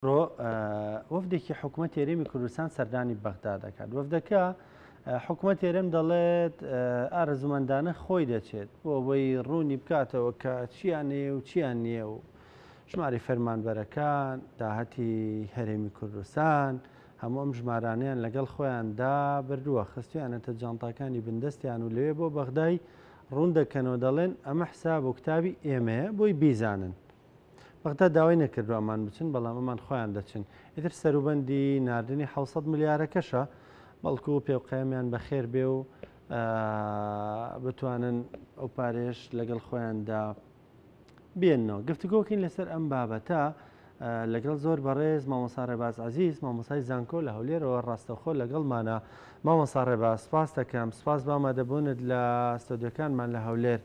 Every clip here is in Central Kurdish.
ئەمڕۆ وەفدێکی حکومەت هێرێمی کوردستان سەردانی بەغدا دەکات وەفدەکە حکومەت هێرێم دەڵێت ئارزومەندانە خۆی دەچێت بۆ ئەوەی ڕوونی بکاتەوە کە چیانێ و چیان نییە و ژماری فەرمانبەرەکان داهەتی هەرێمی کوردستان هەموو ئەم ژمارانیان لەگەڵ خۆیاندا بردووە خستویانەتە جانتاکانی بندستیان و لەوێ بۆ بەغدای ڕوون دەکەنەوە دەڵێن ئەمە حساب و کتابی ئێمەیە بۆی بیزانن بەغدا داوای نەکردوە ئەمان بچن بەڵام ئەمان خۆیان دەچن ئیتر سەروبەندی ناردنی حەوت سەد ملیارەکەشە بەڵکو پێوقەیەمیان بەخێر بێ و بتوانن ئەو پارێش لەگەڵ خۆیاندا بێنەوە گفتگۆکەین لەسەر ئەم بابەتە لەگەڵ زۆر بەڕێز مامۆسا ڕێباز عزیز مامۆسای زانکۆ لە هەولێرەوە ڕاستەخۆ لەگەڵمانە مامۆسا ڕێباز سپاس دەکەم سپاس بامادەبوونت لە ستۆدیەکانمان لە هەولێر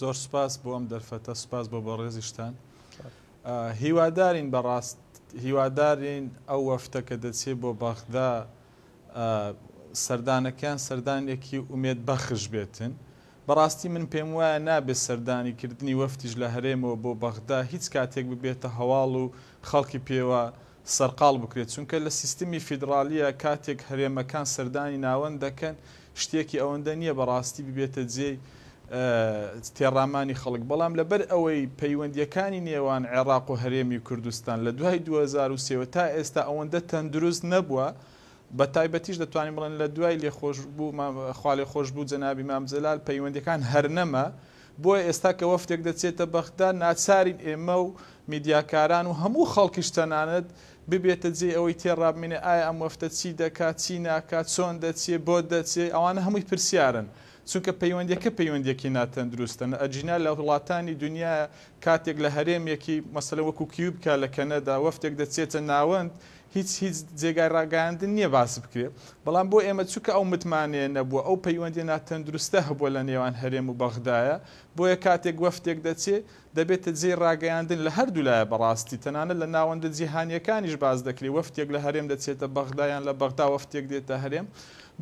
زۆر سوپاس بۆ ئەم دەرفەتە سوپاس بۆ بەڕێزیشتان هیوادارین بەڕاست هیوادارین ئەو وەفتە کە دەچێت بۆ بەغدا سەردانەکەیان سەردانێکی ئومێد بەخش بێتن بەڕاستی من پێم وایە نابێت سەردانی کردنی وەفتیش لە هەرێمەوە بۆ بەغدا هیچ کاتێک ببێتە هەواڵ و خەڵکی پێوە سەرقاڵ بکرێت، چونکە لە سیستمی فیدڕالیە کاتێک هەرێمەکان سەردانی ناوەند دەکەن شتێکی ئەوەندە نیە بەڕاستی ببێتە جێی تێڕامانی خەڵک، بەڵام لەبەر ئەوەی پەیوەندیەکانی نێوان عێڕاق و هەرێمی کوردستان لە دوای دوو هەزار و سێ وە تا ئێستا ئەوەندە تەندروست نەبوە بە تایبەتیش دەتوانین بڵێن لە دوای لێخۆشبو خوالێخۆشبو جەنابی مام جەلال پەیوەندیەکان هەرنەما بۆیە ئێستا کە وەفدێک دەچێتە بەغدا، ناچارین ئێمە و میدیاکاران و هەموو خەڵکیش تەنانەت، ببێتە جێی ئەوەی تێڕابمینێ ئایا ئەم وەفدە چی دەکات، چی ناکات، چۆن دەچێ، بۆ دەچێ، ئەوانە هەمووی پرسیارن، چونکە پەیوەندییەکە پەیوەندییەکی ناتەندروستە، ئەگینا لە وڵاتانی دونیا کاتێک لە هەرێمێکی مەسەلەن وەکوو کیوبکا لە کەنەدا وەفدێک دەچێتە ناوەند، هیچ هیچ جێگای ڕاگەیاندن نییە باس بکرێت، بەڵام بۆ ئێمە چونکە ئەو متمانەیە نەبووە، ئەو پەیوەندییە ناتەندروستە هەبووە لە نێوان هەرێم و بەغدایە، بۆیە کاتێک وەفدێک دەچێ، دەبێتە جێی ڕاگەیاندن لە هەردوو لایە بەڕاستی، تەنانەت لە ناوەندە جیهانییەکانیش باس دەکرێ، وەفدێک لە هەرێم دەچێتە بەغدا یان لە بەغدا وەفدێک دێتە هەرێم،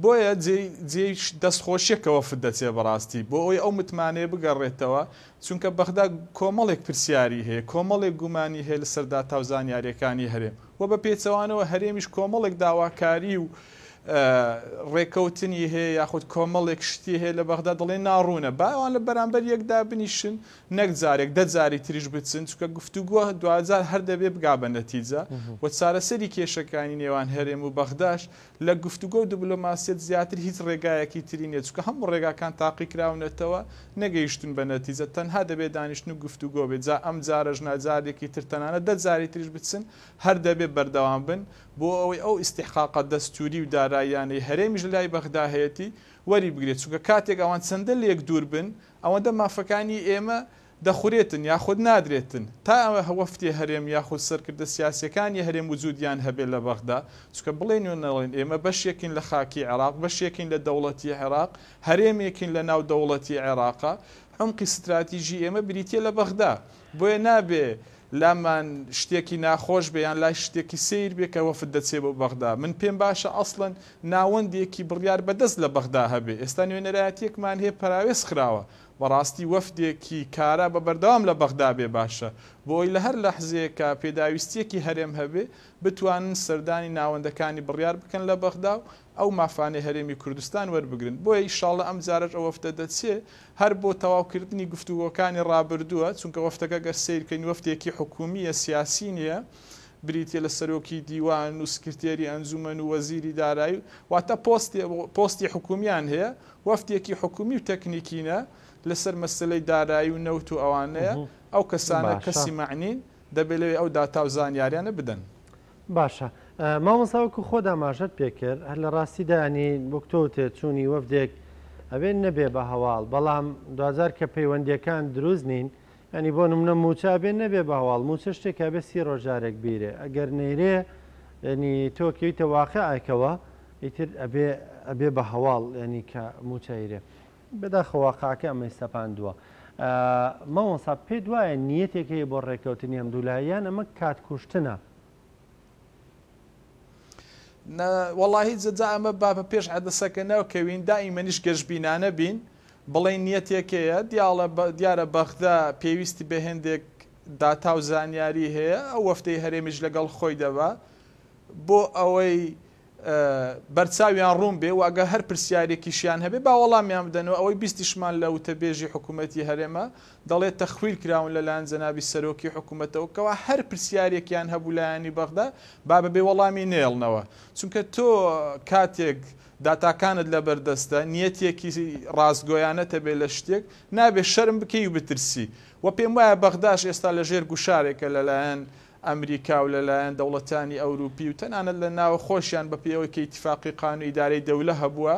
بۆیە جێی جێی دەستخۆشییە کە وەفد دەچێ بەڕاستی، بۆ ئەوەی ئەو متمانەیە بگەڕێتەوە، چونکە بەغدا کۆمەڵێک پرسیاری هەیە، کۆمەڵێک گومانی هەیە لەسەر داتا و زانیارییەکانی هەرێم و بە پێچەوانەوە هەرێمیش کۆمەڵێک داواکاری و ڕێکەوتنی هەیە یاخود کۆمەڵێک شتی هەیە لە بەغدا دەڵێن ناڕوونە، با ئەوان لە بەرامبەر یەک دابنیشن نەک جارێک دە جاری تریش بچن، چونکە گفتوگۆ دواجار هەر دەبێ بگا بە نەتیجە و چارەسەری کێشەکانی نێوان هەرێم و بەغداش لە گفتوگۆ و دبلۆماسیەت زیاتر هیچ ڕێگایەکی تری نیە، چونکە هەموو ڕێگاکان تاقیکراونەتەوە نەگەیشتون بە نەتیجە، تەنها دەبێ دانیشتن و گفتوگۆ بێ، جا ئەم جارەش نا جارێکی تر تەنانەت دە جاری تریش بچن هەر دەبێ بەردەوام بن بۆ ئەوەی ئەو ئیستیحقاقە دەستوری و داراییانەی هەرێمیش لە لای بەغدا هەیەتی وەری بگرێ، چونکە کاتێک ئەوان چەندە لێک دوور بن ئەوەندە مافەکانی ئێمە دەخورێتن یاخود نادرێتن تا ئەوە وەفدێ هەرێم یاخود سەرکردە سیاسیەکان ی هەرێم وجودیان هەبێت لە بەغدا چونکە بڵێن و نەڵێن ئێمە بەشێکین لە خاکی عێراق بەشێکین لە دەوڵەتی عێراق هەرێمێکین لە ناو دەوڵەتی عێراقا عومقی ستراتیژی ئێمە بریتیە لە بەغدا بۆیە نابێ لامان شتێکی ناخۆش بێ یان لای شتێکی سەیر بێ کە وەفد دەچێ بۆ بەغدا من پێم باشە ئەسڵەن ناوەندێکی بڕیار بەدەست لە بەغدا هەبێ ئێستا نوێنەرایەتیەکمان هەیە پەراوێز خراوە بەڕاستی وەفدێکی کارا بە بەردەوام لە بەغدا بێ باشە بۆ ئەوەی لە هەر لەحزەیەکا پێداویستیەکی هەرێم هەبێ بتوانن سەردانی ناوەندەکانی بڕیار بکەن لە بەغدا و ئەو مافانەی هەرێمی کوردستان وەربگرن بۆیە ئیشاڵڵە ئەمجارەش ئەو وەفدە دەچێ هەر بۆ تەواو کردنی گفتوگۆکانی ڕابردووە چونکە وەفدەکە گەر سەیر کەین وەفدێکی حکومیە سیاسی نیە بریتیە لە سەرۆکی دیوان و سکرتێری ئەنجومەن و وەزیری دارایی واتە پۆستی پۆستی حکومیان هەیە وەفدێکی حکومی و تەکنیکینە لەسەر مەسەلەی دارایی و نەوت و ئەوانەیە، ئەو کەسانە باشە. کەسی مەعنین دەبێت لەوێ ئەو داتا و زانیاریانە بدەن. باشە مامۆستا وەکو خۆت ئاماژەت پێکرد هەر لە ڕاستیدا یانی وەک تۆ وتت چوونی وەفدێک ئەبێ نەبێ بە هەواڵ بەڵام دواجار کە پەیوەندییەکان دروست نین یانی بۆ نمونە موچە ئەبێ نەبێ بە هەواڵ موچە شتێکە ئەبێ سی ڕۆژ جارێک بیرێ ئەگەر نەیرێ یانی تۆ کەویتە واقیعێکەوە ئیتر ئەبێ ئەبێ بە هەواڵ یانی کە موچە ئەیرێ بەداخەوە واقعەکە ئەمەی سەپاندووە مامۆستا پێت وایە نیەتێک هەیە بۆ ڕێککەوتنی هەمدوولا یان ئەمە کات کوشتنە؟ نە وەڵاهی جەجا ئەمە با بە پێش عەدەسەکە نەکەوین دائیمەنیش گەشبینانە بین بڵێن نیەتێکەیە دیاڵە دیارە بەغدا پێویستی بە هێندێک داتا و زانیاری هەیە ئەو وەفتەی هەرێمیش لەگەڵ خۆی دەبا بۆ ئەوەی بەرچاویان ڕوون بێ و ئەگەر هەر پرسیارێکیشیان هەبێ با وەڵامیان بدەنەوە، ئەوەی بیستیشمان لە وتەبێژی حکوومەتی هەرێمە دەڵێ تەخویل کراون لەلایەن جەنابی سەرۆکی حکوومەتەوە کەوا هەر پرسیارێکیان هەبوو لایەنی بەغدا با بەبێ وەڵامی نەیەڵنەوە چونکە تۆ کاتێک داتاکانت لەبەردەستە نیەتێکی ڕاستگۆیانەت هەبێ لە شتێک نابێ شەرم بکەی و بترسی وە پێم وایە بەغداش ئێستا لەژێر گوشارێکە لەلایەن ئەمریکا و لەلایەن دەوڵەتانی ئەوروپی و تەنانەت لە ناوەخۆشیان بە پێی ئەوەی کە ئیتیفاقی قانون ادارەی دولە هەبووە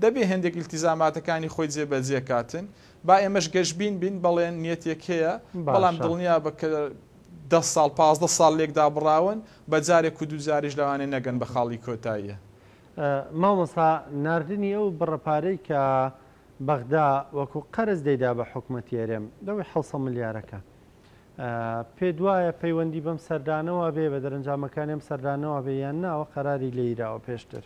دەبێ هێندێک ئیلتیزاماتەکانی خۆی جێ بە جێ کاتن با ئێمەش گەشبین بین بەڵێن نیەتێک هەیە بەڵام باشە. دڵنیا بە کە دە ساڵ پازدە ساڵ لێک دابڕاون بە جارێک و دوو جاریش لەوانێ نەگەن بە خاڵی کۆتاییە. مامۆستا ناردنی ئەو بڕە پارەی کە بەغدا وەکو قەرز دەیدا بە حکومەتی هەرێم لەوەی حەوسەد ملیارەکە پێتوایە پەیوەندی بەم سەردانەوە بێ بە دەرەنجامەکانی ئەم سەردانەوە بێ یان نا ئەوە قەراری لێیراوە پێشتر؟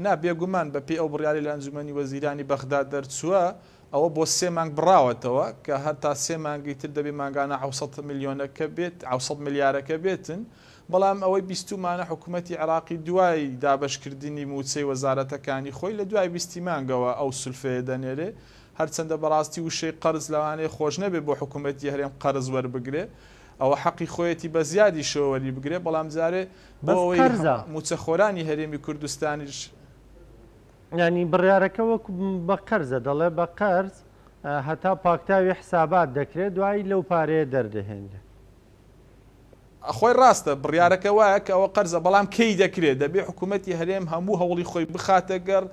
نا بێگومان، بەپێی ئەو بڕیارەی لە ئەنجومەنی وەزیرانی بەغدا دەرچووە، ئەوە بۆ سێ مانگ بڕاوەتەوە کە هەر تا سێ مانگی تر دەبێ مانگانە حەوسەد ملیۆنەکە بێت، حەوسەد ملیارەکە بێتن، بەڵام ئەوەی بیستوومانە حکوومەتی عێراقی دوای دابەشکردنی مووچەی وەزارەتەکانی خۆی لە دوای بیستی مانگەوە ئەو سولفەیە دەنێرێ، هەرچەندە بەڕاستی وشەی قەرز لەوانەیە خۆش نەبێ بۆ حکوومەتی هەرێم قەرز وەربگرێ ئەوە حەقی خۆیەتی بە زیادیشەوە وەریبگرێ بەڵام جارێ بۆ ئەوەی مووچەخۆرانی هەرێمی کوردستانیش یانی بڕیارەکە وەکو بە قەرزە دەڵێ بە قەرز هەتا پاکتاوی حسابات دەکرێ دوایی لەو پارەیە دەردەهێنرێ. خۆی ڕاستە بڕیارەکە وایە کە ئەوە قەرزە بەڵام کەی دەکرێت دەبێت حکومەتی هەرێم هەموو هەوڵی خۆی بخاتە گەڕ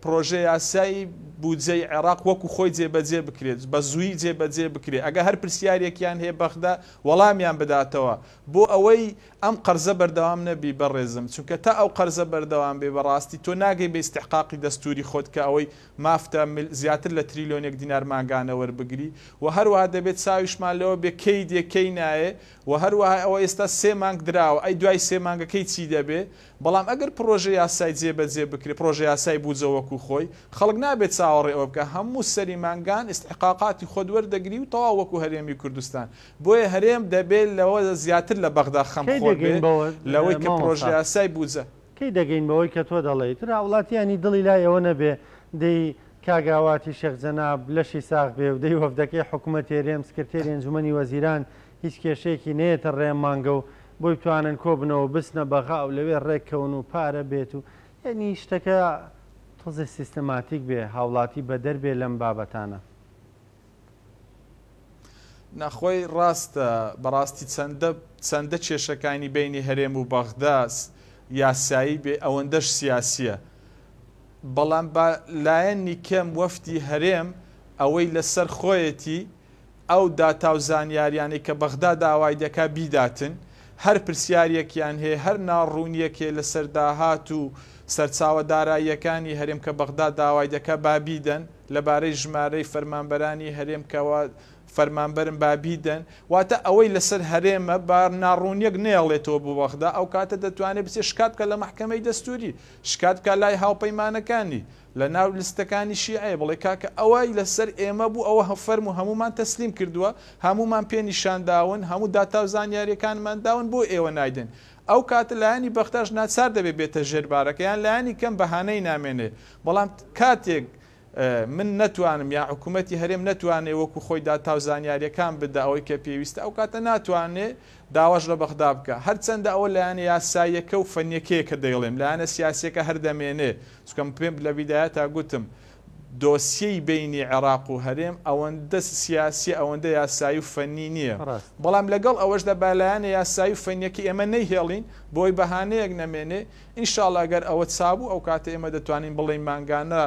پرۆژە یاسای بودجەی عێراق وەکو خۆی جێبەجێ بکرێت بە زووی جێبەجێ بکرێت ئەگە هەر پرسیارێکیان هەیە بەغدا وەڵامیان بداتەوە بۆ ئەوەی ئەم قەرزە بەردەوام نەبی بەڕێزم چونکە تا ئەو قەرزە بەردەوام بێ بەڕاستی تۆ ناگەی بە ئیستحقاقی دەستووری خۆت کە ئەوەی مافتە زیاتر لە تریلیۆنێک دینار مانگانە وەربگری و هەروەها دەبێت چاویشمان لەوە بێ کەی دێ کەی نایێ وە هەروەها ئەوە ئێستا سێ مانگ دراوە ئەی دوای سێ مانگەکەی چی دەبێ؟ بەڵام ئەگەر پڕۆژە یاسای جێ بە جێ بکرێ پڕۆژە یاسای بودجە وەکو خۆی خەڵک نابێ چاوەڕێ ئەوە بکا هەموو سەری مانگان ئیستحقاقاتی خۆت وەردەگری و تەواو وەکو هەرێمی کوردستان بۆیە هەرێم دەبێ لەوە زیاتر لە بەغدا خەم کەی خۆر دەگەین بێ بەوە لەوەی کە پڕۆژە مامۆستا؟ یاسای بودجە کەی دەگەین بەوەی کە تۆ دەڵێی تر هاوڵاتیانی دڵی لای ئەوە نەبێ دەی کاک ئاواتی شێخ جەناب لەشی ساغ بێ و دەی وەفدەکەی حکومەتی هەرێم سکرتێری ئەنجومەنی وەزیران هیچ کێشەیەکی نەیەتە ڕێ مانگە و بۆی بتوانن کۆبنەوە بچنە بەغا و لەوێ ڕێک کەون و پارە بێت و یەعنی شتەکە تۆزێ سیستماتیک بێ هاوڵاتی بەدەر بێ لەم بابەتانە. نا خۆی ڕاستە بەڕاستی چەندە چەندە کێشەکانی بەینی هەرێم و بەغدا یاسایی بێ ئەوەندەش سیاسیە بەڵام با لایەنی کەم وەفدی هەرێم ئەوەی لەسەر خۆیەتی ئەو داتا و زانیاریانەی کە بەغدا داوای دەکات بیداتن، هەر پرسیارێکیان هەیە، هەر ناڕوونیەک هەیە لەسەر داهات و سەرچاوە داراییەکانی هەرێم کە بەغدا داوای دەکات با بیدەن، لەبارەی ژمارەی فەرمانبەرانی هەرێم کە وا فەرمانبەرن با بیدەن، واتە ئەوەی لەسەر هەرێمە با ناڕوونیەک نەیەڵێتەوە بۆ بەغدا، ئەو کاتە دەتوانێت بچێت شکات بکات لە مەحکەمەی دەستووری، شکات بکات لای هاوپەیمانەکانی، لە ناو لستەکانی شیعەیە بڵێ کاکە ئەوەی لە سەر ئێمە بوو ئەوە فەرموو هەموومان تەسلیم کردووە هەموومان پێ نیشان داون هەموو داتا و زانیاریەکانمان داون بۆ ئێوە نایدەن ئەو کاتە لایەنی بەغداش ناچار دەبێ بێتە ژێر بارەکە یان لایەنی کەم بەهانەی نامێنێ بەڵام کاتێک من نەتوانم یا حکوومەتتی هەرێم نەتوانێ وەکو خۆی داتا و زانیاریەکان بدە ئەوەی کە پێویستە ئەو کاتە ناتوانێ داواش لە بەغدا بکە. هەرچەندە ئەوە لایەنە یاساییەکە و فەنیەکەیە کە دەیڵێم، لایەنە سیاسیەکە هەر دەمێنێ، چونکە من پێم لە بیدایەتا گوتم دۆسیەی بەینی عێراق و هەرێم ئەوەندە سیاسیە ئەوەندە یاسایی و فەنی نیە، بەڵام لەگەڵ ئەوەشدا با لایەنە یاسایی و فەنیەکەی ئێمە نەیهێڵین بۆی بەهانەیەک نەمێنێ، ان شاءاللە گەر ئەوە چابوو ئەوکاتە ئێمە دەتوانین بڵێین مانگانە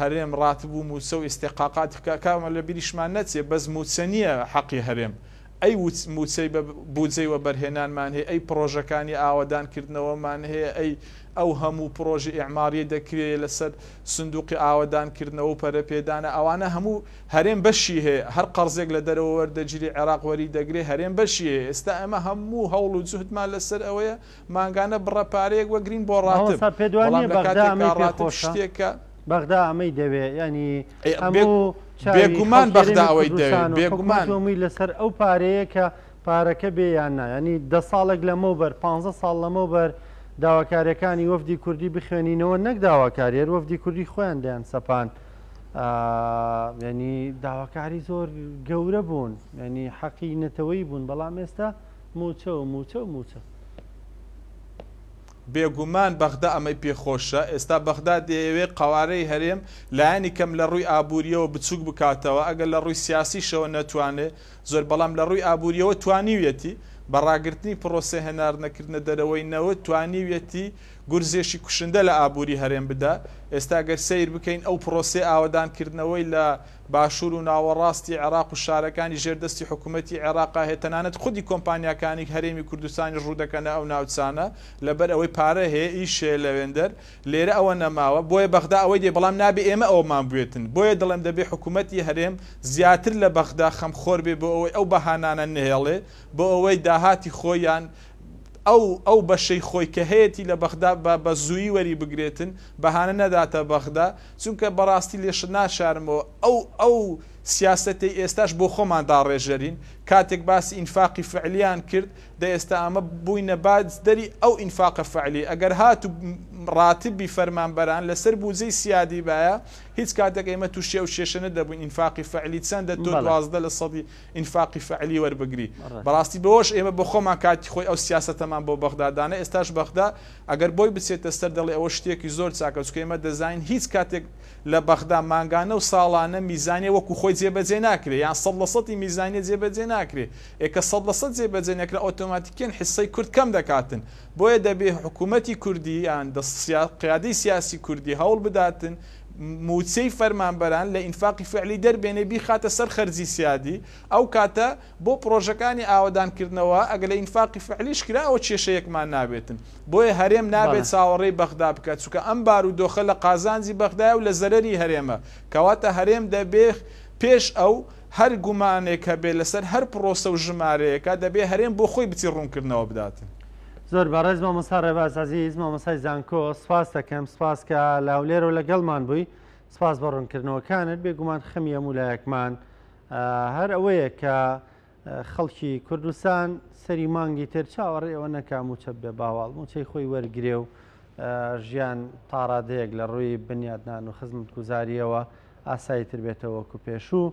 هەرێم راتب و موچە و ئیستحقاقاتی کارمەند لەبیریشمان نەچێ، بەس موچە نیە حەقی هەرێم ئەی مووچەی بە بووجەی وەبەرهێنانمان هەیە، ئەی پڕۆژەکانی ئاوەدانکردنەوەمان هەیە، ئەی ئەو هەموو پڕۆژە ئیعمارییە دەکرێ لەسەر سندووقی ئاوەدانکردنەوە و پەرەپێدانە، ئەوانە هەموو هەرێم بەشی هەیە، هەر قەرزێک لە دەرەوە وەردەگیری عێراق وەریدەگرێ هەرێم بەشی هەیە، ئێستا ئێمە هەموو هەوڵ و جوهدمان لەسەر ئەوەیە مانگانە بڕە پارەیەک وەگرین بۆ ڕاتب مامۆستا پێت وا بەڵام نیە لە بەغدا کاتێکا ئەمەی پێ ڕاتب خۆشە شتێکە بەغدا ئەمەی دەوێ یانی ئەی بێ هەموو چاوی بێگومان خەڵکی بەغدا ڕێمی ئەوەی دەوێ کوردستان و حکومەت بێگومان و هەمووی لەسەر ئەو پارەیە کە پارەکە بێ یان نا یانی دە ساڵێک لەمەو بەر پانزە ساڵ لەمەو بەر داواکاریەکانی وەفدی کوردی بخوێنینەوە نەک داواکاری هەر وەفدی کوردی خۆیان دەیان سەپان ئا یانی داواکاری زۆر گەورە بوون یانی حەقی نەتەوەی بوون بەڵام ئێستا موچە و موچە و موچە. بێگومان بەغدا ئەمەی پێ خۆشە، ئێستا بەغدا دەیەوێت قەوارەی هەرێم لایەنی کەم لە ڕووی ئابوورییەوە بچووک بکاتەوە، ئەگەر لە ڕووی سیاسیشەوە نەتوانێت زۆر بەڵام لە ڕووی ئابوورییەوە توانیویەتی بە ڕاگرتنی پڕۆسەی هەناردنەکردنە دەرەوەی نەوت توانیویەتی گورزێکی کوشندە لە ئابووری هەرێم بدات، ئێستا گەر سەیر بکەین ئەو پڕۆسەی ئاوەدانکردنەوەی لە باشوور و ناوەڕاستی عێراق و شارەکانی ژێر دەستی حکوومەتی عێراقا هەیە، تەنانەت خودی کۆمپانیاکانی هەرێمی کوردستانیش ڕوو دەکەنە ئەو ناوچانە، لەبەر ئەوەی پارە هەیە، ئیش هەیە لەوێندەر، لێرە ئەوە نەماوە، بۆیە بەغدا ئەوەی دەوێت، بەڵام نابێ ئێمە ئەوەمان بوێتن، بۆیە دەڵێم دەبێ حکوومەتی هەرێم زیاتر لە بەغدا خەمخۆر بێ بۆ ئەوەی ئەو بەهانانە نەهێڵێ بۆ ئەوەی داهاتی خۆی یان ئەو ئەو بەشەی خۆی کە هەیەتی لە بەغدا بە بە زوویی وەریبگرێتن، بەهانە نەداتە بەغدا، چونکە بەڕاستی لێشت ناشارمەوە، ئەو ئەو سیاسەتەی ئێستاش بۆ خۆمان داڕێژەرین، کاتێک باسی ئینفاقی فەعلیان کرد، دە ئێستا ئەمە بووینە باجدەری ئەو ئینفاقە فەعلیە، ئەگەر هاتوو ڕاتبی فەرمانبەران لەسەر بوجەی سیادی بایە، هیچ کاتێک ئێمە تووشی ئەو کێشە نەدەبووین، ئینفاقی فەعلی چەندە تۆ دوازدە لە سەدی. ئینفاقی فەعلی وەربگری. بەڕاستی بەوەش ئێمە بۆخۆمان کاتی خۆی ئەو سیاسەتەمان بۆ بەغدا دانا، ئێستاش بەغدا ئەگەر بۆی بچێتە سەر دەڵێ ئەوە شتێکی زۆر چاکە، چونکە ئێمە دەزانین هیچ کاتێک لە بەغدا مانگانە و ساڵانە میزانیە وەکو خۆی جێبەجێ ناکرێ، یان سەد لە سەدی میزانیە جێبەجێ ناکرێ، ئێ کە سەد لە سەد جێبەجێ نەکرا ئۆتۆماتیکیەن حیسەی کورد کەم دەکاتن، بۆیە دەبێ حکوومەتی کوردی یان قیادەی سیاسی کوردی هەوڵ بداتن، مووچەی فەرمانبەران لە ئینفاقی فعلی دەربێنێ بیخاتە سەر خەرجی سیادی، ئەو کاتە بۆ پڕۆژەکانی ئاوەدان کردنەوە ئەگەر لە ئینفاقی فعلیش کرا ئەوە کێشەیەکمان نابێتن، بۆیە هەرێم نابێ بەڵێ. چاوەڕێی بەغدا بکات چونکە ئەم بارودۆخە لە قازانجی بەغدایە و لە زەرەری هەرێمە، کەواتە هەرێم دەبێ پێش ئەو هەر گومانێک هەبێ لەسەر هەر پڕۆسە و ژمارەیەکا دەبێ هەرێم بۆ خۆی بچی ڕوونکردنەوە بداتن. زۆر بەڕێز مامۆستا ڕێباز عزیز مامۆسای زانکۆ سپاس دەکەم سپاس کە لاولێرە و لەگەڵمان بووی سپاس بە ڕوونکردنەوەکانت بێگومان خەمی هەموو لایەکمان هەر ئەوەیە کە خەڵکی کوردستان سەری مانگی تر چاوەڕێ ئەوە نەکا موچە بێ باواڵ موچەی خۆی وەرگێ و ژیان تاڕادەیەک لە ڕووی بنیاتنان و خزمەت گوزاریەوە ئاسایی تر بێتەوە وەکو پێشوو.